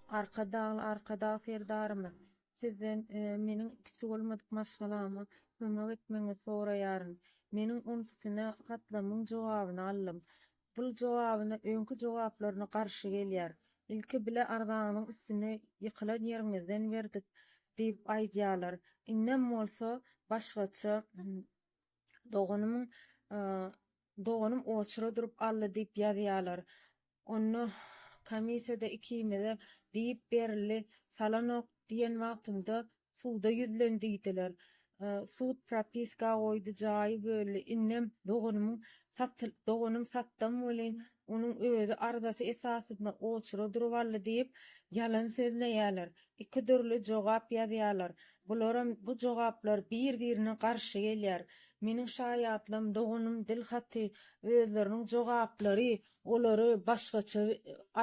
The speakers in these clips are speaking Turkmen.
Arkadagly Arkadag Serdarymyz, Sizden meniň kiçi bolmadyk maşgalama kömek etmegiňizi soraýaryn. Meniň on ikisine hatlamyň jogabyny aldym. Bul jogabyna öňki jogaplaryna garşy gelýär. Ilki bile arzaňyzyň üstüne ýykylan ýeriňizden berdik diýip aýdýarlar. Indem bolsa başgaça doganymyň Doganym oçura durup aldy diýip ýazýalar. Onda komissiýada ikimize diýip berildi, salanok diýen wagtymda suda ýüzlen diýdiler. Sud propiska goýdy, jaýy böldi. Indem doganymyň doganym satdam welin Onuň özi arzasy esasynda oçura durup aldy diýip, ýalan sözleýärler. Iki dürli jogap ýazýarlar. Bularam bu jogaplar bir-birine garşy gelýär. Meniň şaýatlygym, doganym Dilhaty özleriniň jogaplary, olary başgaça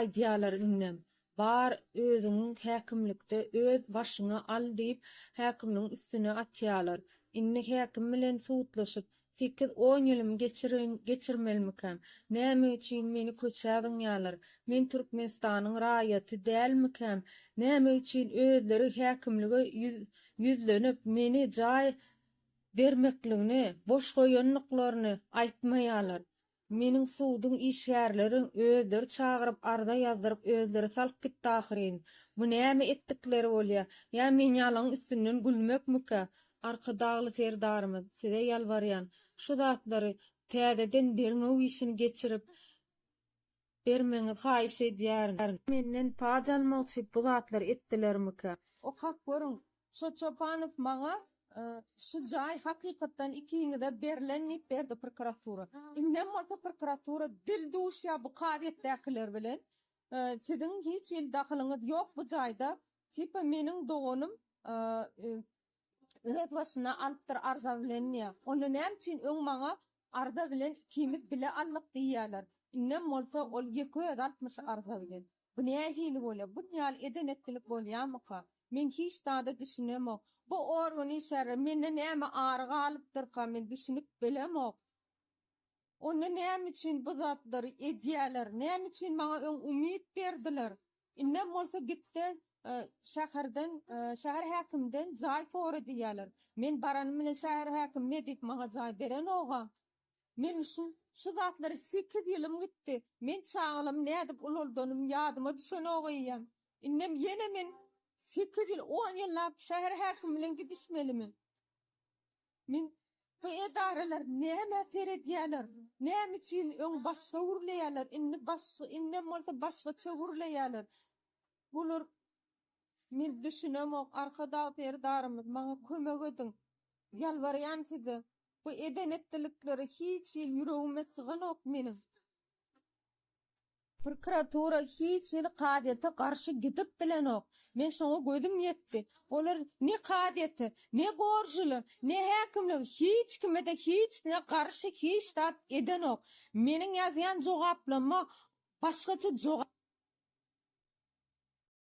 aýdýarlar indem. Bar, özüňi häkimlikde öz başyňa al diýip, häkimiň üstüne atýarlar. Indi häkim bilen sudlaşyp, sekiz-on ýylymy geçirin, geçirmelimikäm? Näme üçin meni köçä zyňýarlar? Men Türkmenistanyň raýaty dälmikäm? Näme üçin özleri häkimlige ýüz, ýüzlenip, meni jaý bermekligini, boş goýandyklaryny aýtmaýarlar? Meniň suduň işgärlerin özleri çagyryp arza ýazdyryp özleri salyp gitdi ahyryn. Bu näme etdikleri bolýa? Ýa men ýalaň üstünden gülmekmikä? Arkadagly Serdarymyz, size ýalbarýan, şu zatlary täzeden derňew işini geçirip, bermegiňizi haýyş edýärin. Menden paç almak üçin bu zatlary etdilermikä? Okap görüň. Şo Çopanow maňa Şu jaý hakykatdan ikiňize berlen diýip berdi prokuratura. Indem bolsa prokuratura dil duşýar bu kazyýetdäkiler bilen. Siziň hiç hili dahylyňyz ýok bu jaýda. Tipa meniň doganym öz başyna alypdyr arza bilen diýýä. Onda näme üçin öň maňa arza bilen ikimiz bile aldyk diýýäler. Indem bolsa ol ýeke özi alypmyş arza bilen. Bu nähili bolýa? Bun ýaly eden-etdilik bolýamyka? Men hiç zada düşünemok. Bu organ işgärleri mende näme ary galypdyrka men düşünip bilemok. Onda näme üçin bu zatlary edýäler? Näme üçin maňa öň umyt berdiler? Indem bolsa gitse, şäherden, şäher häkiminden jaý sora diýýärler. Men baranym bilen şäher häkimi Medip maňa jaý berenog-a. Meň üçin şu zatlara sekiz ýylym gitdi. Men çagalamy nädip ulaldanym ýadyma düşenog eýýäm. Indem ýene men sekiz ýyl, on ýyllap şäher häkimi bilen gidişmelimi? Men, Bu edaralar nämä seredýärler, näme üçin öň başga gürleýärler, indi başga, indem bolsa başgaça gürleýärler. Bular, men düşünemok, Arkadag Serdarymyz, maňa kömek ediň. Ýalbarýan size. Bu eden-etdilikleri hiç hili ýüregime syganok meniň. Prokuratura hiç hili kazyýete garşy gidip bilenok. Men şoňa gözüm ýetdi. Olar ne kazyýete, ne gorjula, ne häkimlige, hiç kime-de hiç ne garşy hiç zat edenok. Meniň ýazýan jogaplama başgaça jogap.